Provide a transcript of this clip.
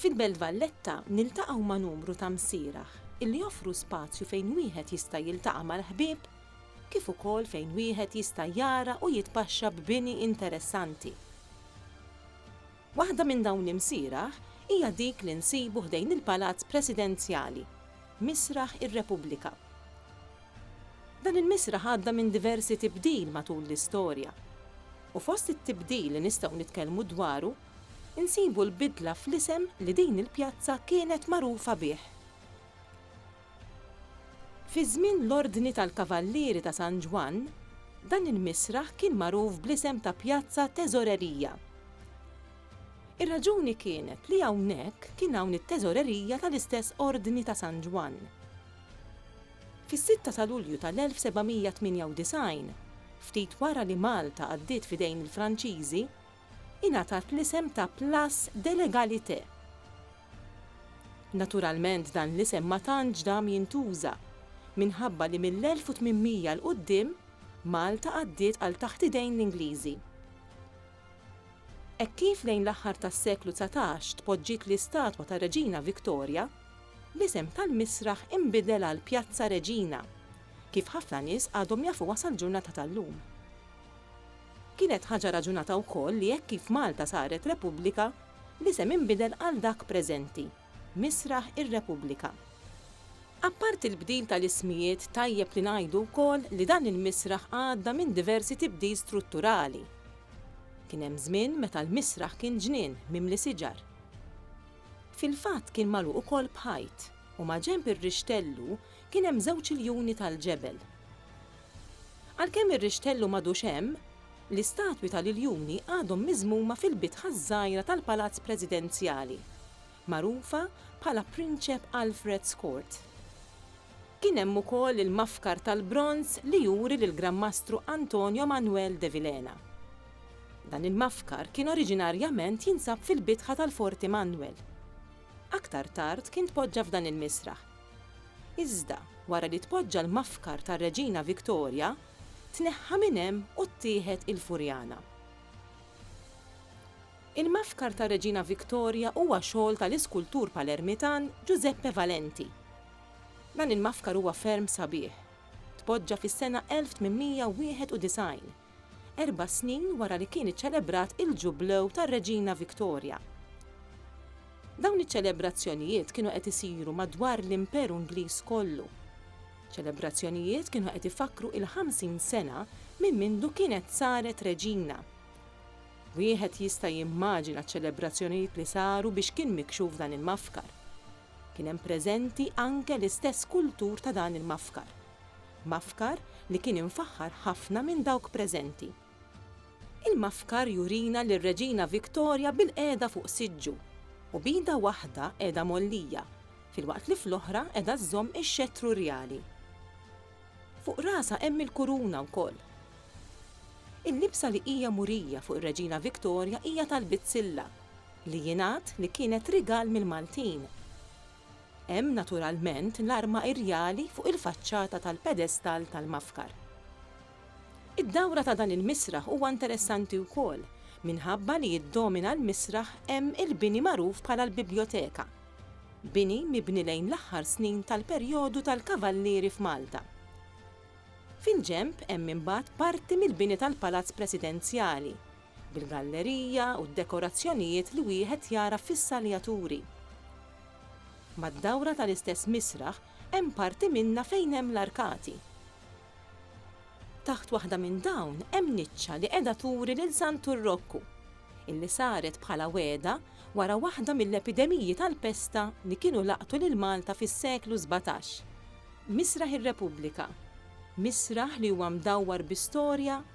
Fil-Belt Valletta niltaqgħu ma' numru ta' msierah illi joffru spazju fejn wieħed jista' jiltaqa' mal-ħbieb kif ukoll fejn wieħed jista' jara u jitpaxxa b'bini interessanti. Waħda minn dawn l-imsierah hija dik li nsibu ħdejn il-Palazz Presidenzjali, Misraħ ir-Repubblika. Dan il-misraħ għadda minn diversi tibdil matul l-istorja u fost it-tibdil li nistgħu nitkellmu dwaru Insibu l-bidla fl-isem li din il-pjazza kienet magħrufa bih. Fi żmien l-Ordni tal-Kavallieri ta' San Ġwann, dan il-misraħ kien magħruf bl-isem ta' Pjazza Teżorerija. Ir-raġuni kienet li hawnhekk kien hawn it-teżorerija tal-istess Ordni ta' San Ġwann. Fis-sitta ta' Lulju tal-1798, ftit wara li Malta għaddiet f'idejn il-Franċiżi, ingħatat l-isem ta' Place de l'Egalité. Naturalment dan l-isem ma tantx dam jintuża, minħabba li mill-1800 'l quddiem Malta għaddiet għal taħt idejn l-Ingliżi. Hekk kif lejn l-aħħar tas-seklu dsatax tpoġġiet l-istatwa tar-Reġina Victoria, l-isem tal-misraħ inbidel għal Pjazza Reġina, kif ħafna nies għadhom jafuha sal-ġurnata tal-lum. Kienet ħaġa raġunata wkoll li hekk kif Malta saret Repubblika, l-isem inbidel għal dak preżenti, Misraħ ir-Repubblika. Apparti l-bdil tal-ismijiet tajjeb li ngħidu wkoll li dan il-misraħ għadda minn diversi tibdil strutturali. Kien hemm żmien meta l-misraħ kien ġnien mimli siġar. Fil-fatt kien magħluq ukoll b'ħajt u maġenb ir-rixtellu kien hemm żewġ iljuni tal-ġebel. Għalkemm ir-rixtellu m'għadux hemm, l-istatwi tal-iljuni għadhom miżmuma fil-bitħa ż-żgħira tal-Palazz Presidenzjali, magħrufa bħala Prinċep Alfred's Court. Kien hemm ukoll il-mafkar tal-bronż li juri lill-Gran Mastru Antonio Manuel de Vilhena. Dan il-mafkar kien oriġinarjament jinsab fil-bitħa tal-Forti Manuel. Aktar tard kien tpoġġa f'dan il-misraħ. Iżda, wara li tpoġġa l-mafkar tar-Reġina Victoria, tneħħa minn hemm u ttieħed il-Furjana. Il-mafkar tar-Reġina Victoria huwa xogħol tal-iskultur Palermitan Giuseppe Valenti. Dan il-mafkar huwa ferm sabiħ. Tpoġġa fis-sena 1891. erba' snin wara li kien iċċelebrat il-Ġublew tar-Reġina Victoria. Dawn iċ-ċelebrazzjonijiet kienu qed isiru madwar l-Imperu Ingliż kollu. Ċelebrazzjonijiet kienu qed ifakkru il-50 sena minn mindu kienet saret Reġina. Wieħed jista' jimmaġina ċ-ċelebrazzjonijiet li saru biex kien mikxuf dan il-mafkar. Kien hemm preżenti anke l-istess kultur ta' dan il-mafkar. Mafkar li kien imfaħħar ħafna minn dawk preżenti. Il-mafkar jurina lir-Reġina Victoria bilqiegħda fuq siġġu u b'idha waħda qiegħda mgħollija, filwaqt li fl-oħra qiegħda żżomm ix-xettru rjali. Fuq rasha hemm il-kuruna wkoll. Il-libsa li hija murija fuq ir-Reġina Victoria hija tal-bizzilla, li jingħad li kienet rigal mill-Maltin. Hemm naturalment l-arma irjali fuq il-faċċata tal-pedestall tal-mafkar. Id-dawra ta' dan il-misraħ huwa interessanti wkoll minħabba li jiddomina l-misraħ hemm il-bini magħruf bħala l-Bibljoteka, bini mibni lejn l-aħħar snin tal-perjodu tal-Kavallieri f'Malta. Fil-ġenb hemm imbagħad parti mill-bini tal-Palazz Presidenzjali, bil-gallerija u d-dekorazzjonijiet li wieħed jara fis-saljaturi. Mad-dawra tal-istess misraħ hemm parti minnha fejn hemm l-arkati. Taħt waħda minn dawn hemm niċċa li qiegħda turi lil Santu r-Rokku, illi saret bħala wegħda wara waħda mill-epidemiji tal-pesta li kienu laqtu lil Malta fis-seklu sbatax. Misraħ ir-Repubblika, misraħ li huwa mdawwar bi storja,